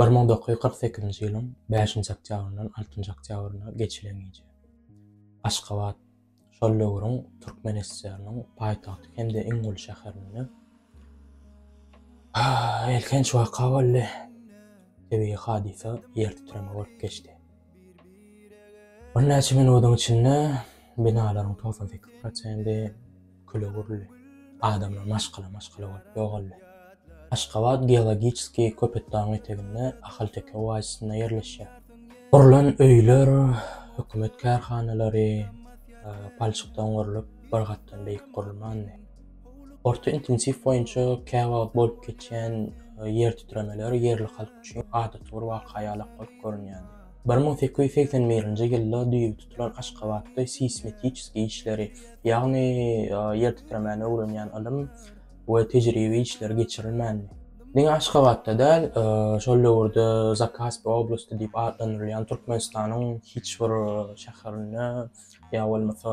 Bir müň dokuz ýüz kyrk sekizinji ýylyň bäşinji oktýabryndan altynjy oktýabryna geçilen gije. Aşgabat, şol döwrüň Türkmen SSR-niň paýtagty hem-de iň uly şäherinde elhenç waka boldy. Tebigy hadysa ýertitreme bolup geçdi. Birnäçe minudyň içinde binalaryň togsan sekiz prosendi küle öwrüldi. Adamlar maşgala-maşgala bolup ýogaldy. Aşgabat geologiski Köpetdagyň eteginde, Ahalteke oazisinde ýerleşýär. Gurlan öýler, hökümet kärhanalary palçykdan gurlup, bir gatdan beýik gurulmandy. Orta intensiw boýunça käwagt bolup geçýän e, ýer titremeler ýerli halk üçin adaty bir waka ýalak bolup görünýär. 1881-nji ýylda düýbi tutulan Aşgabatda seýsmetiçeskiý işleri, ýagny e, ýer titremäni öwrenýän ylym we tejribe işleri geçirilmändi. Diňe Aşgabatda däl, e, şol döwürde Zakaspi oblasty diýip atlandyrylýan Türkmenistanyň hiç bir e, şäherinde Ýa bolmasa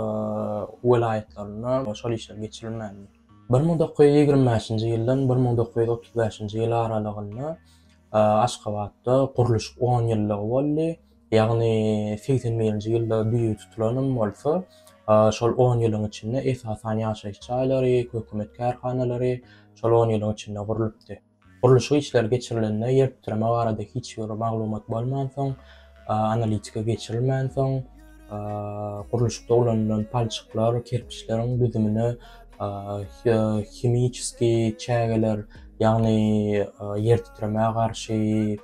welaýatlarynda şol işler geçirilmänmi? Bir müň dokuz ýüz ýigrimi bäşinji ýyldan bir müň dokuz ýüz otuz bäşinji ýyl aralygynda Aşgabatda gurluşyk on ýyllygy boldy. Ýagny segsen birinji ýylda düýe tutulanym bolsa, şol on ýylyň içinde esasan ýaşaýyş jaýlary, hökümet kärhanalary şol on ýylyň içinde gurlupdy. Gurluşyk işleri geçirilende ýer titreme barada hiç bir maglumat bolmansoň, analitika geçirilmänsoň, gurluşykda ulanylan palçyklar, kerpiçleriň düzümine himiçski çägeler, ýagny ýer titremä garşy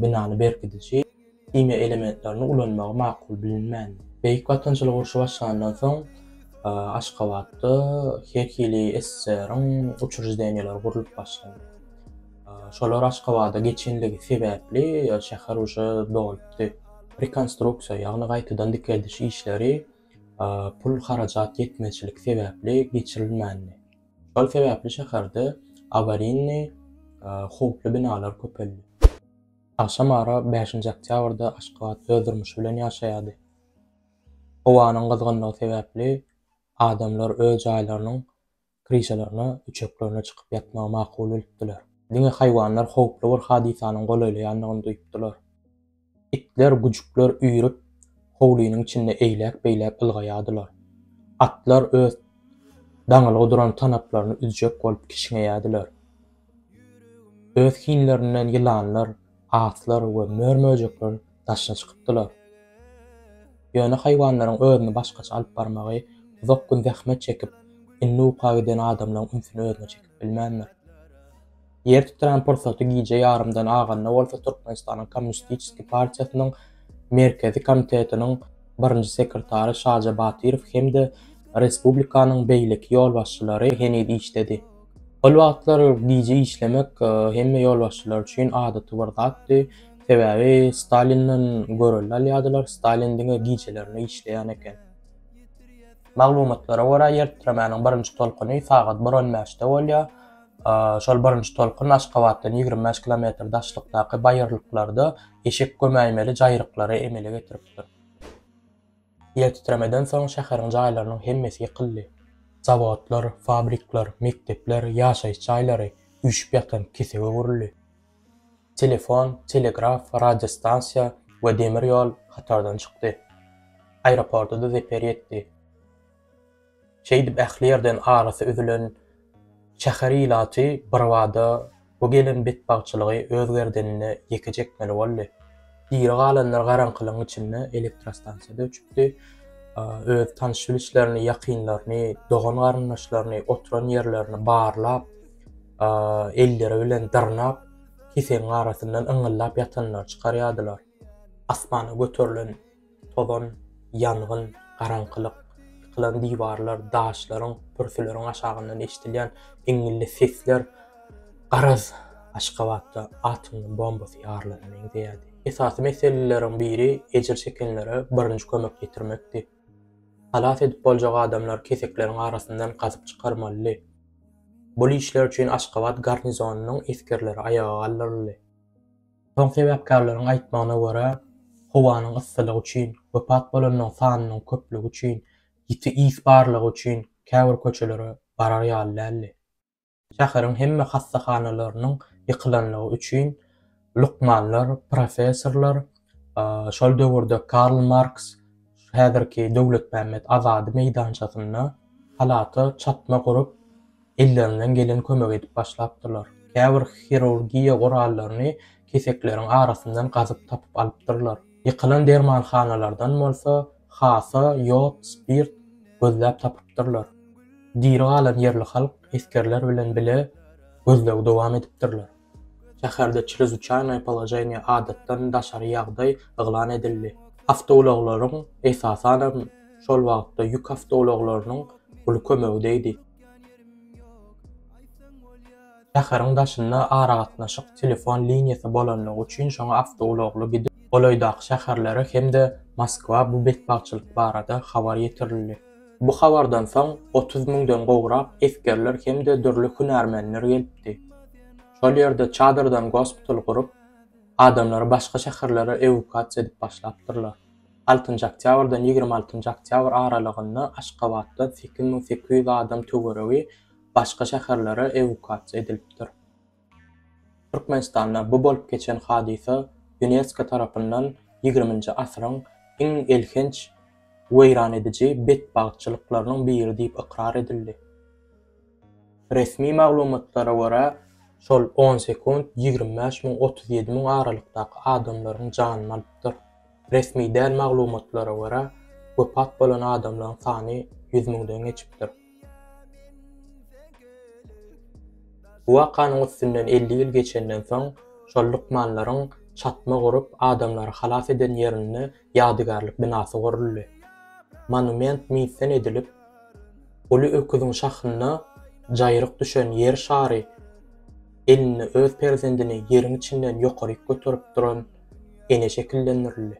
binany berkidiji, himiýa elementlerini ulanmagy makul bilinmän. Beýik Watançylyk urşy başlandan soň Aşgabatda her hili SSR-iň uçur zdeniýaleri gurlup başlandy. Şolar Aşgabada geçenligi sebäpli şäher uje dolupdy. Rekonstruksiýa, ýagny gaýtadan dikeldiş işleri pul harajat ýetmezçilik sebäpli geçirilmändi. Şol sebäpli şäherde awarinny, howply binalar köpeldi. Agşam ara bäşinji oktýabrda Aşgabat öz durmuşy bilen ýaşaýardy. Howanyň gyzgynlygy sebäpli adamlar öz jaýlarynyň kryşalaryna, üçeklerine çykyp ýatmagy makul bilipdiler. Diňe haýwanlar howply bir hadysanyň golaýlaýandygyny duýupdylar. Itler, güjükler üýrüp, howlynyň içinde eýläk-beýläk ylgaýardylar. Atlar öz daňylgy duran tanaplaryny üzjek bolup kişňeýärdiler. Öz hinlerinden ýylanlar, aslar we mör-möjekler daşyna çykypdylar. Ýöne haýwanlaryň özüni başgaça alyp barmagy uzak gün zähmet çekip, indi uka giden adamlaryň ünsüni özüne çekip bilmändir. Ýer titräm pursaty gije ýarymdan aganda bolsa Türkmenistanyň Kommunistiçeskiý partiýasynyň Merkezi komitetiniň birinji sekretary Şaja Batyrow hem-de respublikanyň beýleki ýolbaşçylary heniz işdedi. Ol wagtlar gije işlemek e, hemme ýolbaşçylar üçin adaty bir zatdy. Sebäbi Stalinden görelde alýardylar, Stalin diňe gijelerine işleýän eken. Maglumatlara görä, ýer titremäniň birinji tolkuny sagat bir on bäşde bolýar. E, şol birinji tolkun Aşgabatdan ýigrimi bäş kilometr daşlykdaky baýyrlyklarda eşek gömäýmeli jaýryklary emele getiripdir. Ýertitremeden soň şäheriň jaýlarynyň hemmesi ýykyldy. Zawodlar, fabrikler, mekdepler, ýaşaýyş jaýlary üýşüp ýatan kesege öwrüldi. Telefon, telegraf, radiostansiýa we demir ýol hatardan çykdy. Aeroporta-da zeper ýetdi. Şeýdip ähli ýerden arasy üzülen şäher ilaty birbada bu gelen betbagtçylygy öz gerdenine ýeke çekmeli boldy. Diri galanlar garaňkylygyň içinde elektrostansiýada öçüpdi. Öz tanyş-bilişlerini, ýakynlaryny, dogan-garyndaşlaryny, oturan ýerlerini barlap, elleri bilen dyrnap, kesegiň arasyndan yňyldap ýatanlary çykarýardylar. Asmana göterilen Tozan, ýangyn, garaňkylyk, ýykylan diwarlar, daşlaryň, pürsüleriň aşagyndan eşidilýän iňňilli sesler, garaz, Aşgabatda atom bombasy ýarylana meňzeýärdi. Esasy meseleleriň biri ejir çekenlere birinji kömek ýetirmekdi. Halas edip boljak adamlary kesekleriň arasyndan gazyp çykarmalydy. Bul işler üçin Aşgabat garnizonynyň esgerleri aýaga galdyryldy. Soň sebäpkärleriň aýtmagyna görä, howanyň yssylygy üçin, wepat bolanlaryň sanynyň köplügi üçin, ýiti ys barlygy üçin käbir köçelere barar ýaly däldi. Şäheriň hemme hassahanalarynyň ýykylanlygy üçin lukmanlar, professorlar, şol döwürde Karl Marks häzirki Döwletmämmet Azady meýdançasynda halata çatma gurup, ellerinden gelen kömegi edip başlapdyrlar. Käbir hirurgiýa gurallaryny kesekleriň arasyndan gazyp tapyp alypdyrlar. Ýykylan dermanhanalardan bolsa hasa, ýod, spirt gözläp tapypdyrlar. Diri galan ýerli halk esgerler bilen bile gözlegi dowam edipdirler. Şäherde çrezuçaýnaý položeniýe, adatdan daşary ýagdaý, yglan edildi. Awtoulaglaryň, esasanam, şol wagtda ýük awtoulaglarynyň uly kömegi degdi. Şäheriň daşynda aragatnaşyk telefon liniýasy bolanlygy üçin şoňa awtoulagly gidip, golaýdaky şäherlere hem-de Moskwa bu betbagtçylyk barada habar ýetirildi. Bu habardan soň otuz müňden gowrak esgerler hem-de dürli hünärmenler gelipdi. Şol ýerde çadyrdan gospital gurup, adamlary başga şäherlere ewukuasiýa edip başlapdyrlar. Altynjy oktýabrdan ýigrimi altynjy oktýabr aralygynda Aşgabatdan sekiz müň sekiz ýüz adam töweregi başga şäherlere ewukuasiýa edilipdir. Türkmenistanda bu bolup geçen hadysa Ýunesko tarapyndan ýigriminji asyryň iň elhenç weýran ediji betbagtçylyklarynyň biri diýip ykrar edildi. Resmi maglumatlara görä, şol on sekunt ýigrimi bäş müň, otuz ýedi müň aralykdaky adamlaryň janyny alypdyr. Resmi däl maglumatlara görä, wepat bolan adamlaryň sany ýüz müňden geçipdir. Bu wakanyň üstünden elli ýyl geçenden soň, şol lukmanlaryň çatma gurup, adamlary halas eden ýerinde ýadygärlik binasy guruldy. Monument misden edilip, uly öküziň şahynda jaýryk düşen Ýer şary, elinde öz perzendini ýeriň içinden ýokaryk göterip duran ene şekillendirildi.